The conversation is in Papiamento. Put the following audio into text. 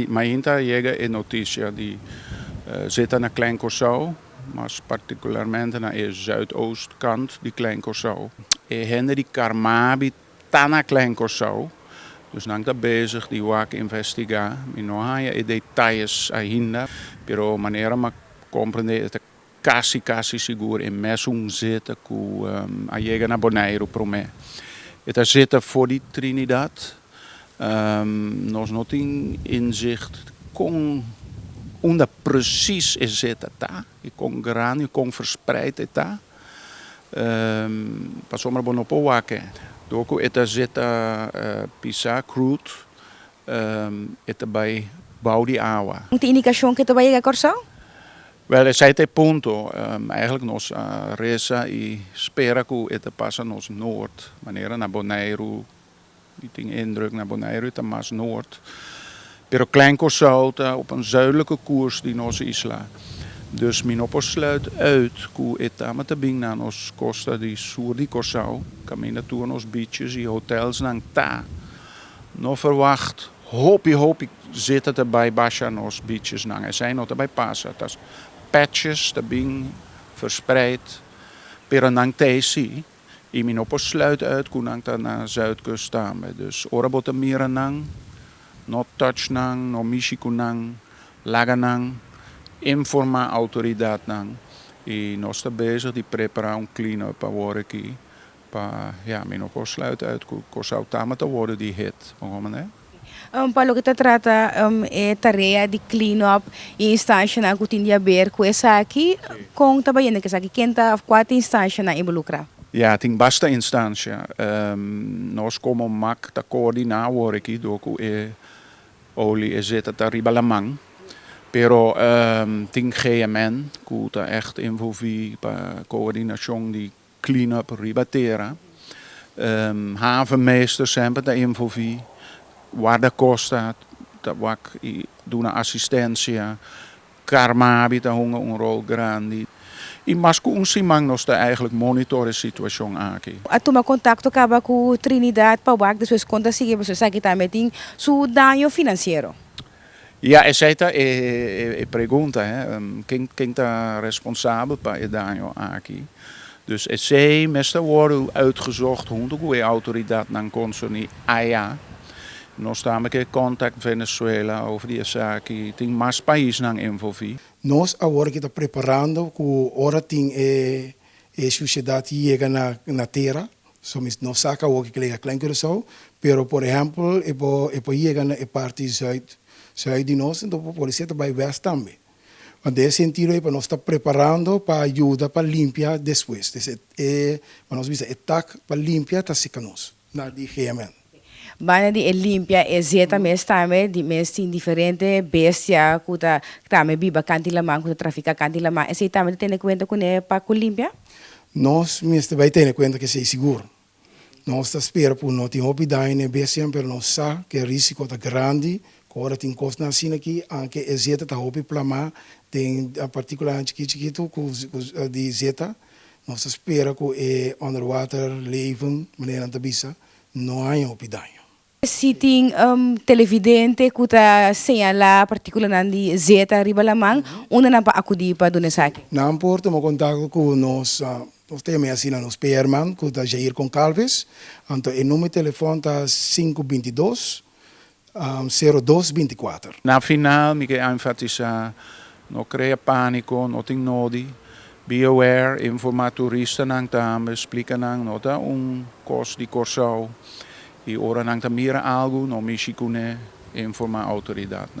Mainta a yega e noticia di zeta na Klein Kòrsou, mas particularmente na e zuidoost kant di Klein Kòrsou. E hende di Carmabi ta na Klein Kòrsou, dus nan ta bezig di wak investigá. Mi no haña e detalles ainda, pero manera m'ta comprendé e ta Casi casi sigur e mes un zeta cu a yega na Boneiru prome e ta zeta for di Trinidad. Nos no tin inzicht con unda precies e zeta ta y con grandi y con verspreid e ta. Pasobra bo no por wake door cu e ta zeta pisa cruut e ta bay bao di awa. Un tin indicacion cu e ta bay yega Corsou? Wel, esei ta e punto. Eigenlijk nos a resa y spera cu e ta pasa nos noord. Manera na Boneiru, mi tin e indruk na Boneiru e ta mas noord. Pero Klein Curaçao ta op een zuidelijke koers di nos isla. Dus mi no por sluit uit cu e tamata bin na nos costa di sur di Curaçao, caminda tur nos beaches y hotelsnan ta no verwacht. Hopi hopi zeta ta bai basha nos bichesnan. Esei no ta bai pasa. Ta patches ta bin verspreid. Pero nan tei si. I mi no por sluit uit ku nan ta na Zuidkust tambe. Dus ora bo ta mira nan, no touch nan, no mishi ku nan. Laga nan informá outoridatnan. I nos ta bezig di prepará un clean-up awor aki. Pa ya mi no por sluit uit cu Kòrsou tambe ta worde di hit pa un manera. Pa loke ta trata e tarea di clean up y e instancianan cu tin di haber cu esaki, con ta bayendo cu esaki? Ken ta, of cua ta instancianan involucra? Ya, tin basta instancia. Nos como mac ta coordina awor aki door cu e olie e zeta ta riba laman. Pero tin GMN cu ta echt envolvi pa coordinacion di Clean up riba tera. Havenmeester semper ta envolvi. Warda costa ta wak y duna asistencia. Carmabi ta hunga un rol grandi. Y mas cu un siman nos ta eigenlijk monitor e situacion aki. A tuma contacto caba cu Trinidad pa wak despues con ta sigui pasobra esaki tambe tin su daño financiero. Ya esei ta e pregunta hè, ken ta responsabel pa e daño aki? Dus esei mester wòrdu uitgezocht hunto ku e outoridatnan konsoní aya. Nos ta me ke kòntak Venezuela over di esaki, tin mas paisnan envolví. Nos awor aki ta preparando ku ora tin e susiedat yega na tera So mi no sa ka awor ke kelega kla in Curacao, pero por ehempel e por e por yega na e parti zuid zuid di nos enton por poder seta bai west tambe. Wan den e sentido ey pa nos ta preparando pa yuda pa limpia despues. Des e e nos bisa e tak pa limpia ta sika nos na di GMN. Banda di e limpia e zeta mes tambe di mes tin diferente bestia ku ta tambe biba kan tin laman ku ta trafika kan tin laman esei tambe ta tene kuenta kuné pa ku limpia? Nos mester bai tene kuenta ku esei sigur. Nos ta spera ku no tin hopi daño n'e bestianan pero nos sa ku e risiko ta grandi ku ora tin kosnan asina aki anke e zeta ta hopi plamá den partikulanan chikit chikitu ku di zeta nos ta spera ku e underwater leven manera nan ta bisa no haña hopi daño. Si tin un televidente cu ta señala particulonan di zeta riba laman, unda nan por acudi pa duna esaki? Nan por tuma contacto cu nos, nos ta yama e asina nos PR man cu ta Jair Concalves, anto e numer di telefon ta sinku binti dos, sero dos binti kuater. Na final mi ke enfatisá, no krea pániko, no tin nodi, be aware, informá turistanan tambe, splika nan no ta un kos di Kòrsou i ora nan ta mira algu no mishi kuné, informá outoridatnan.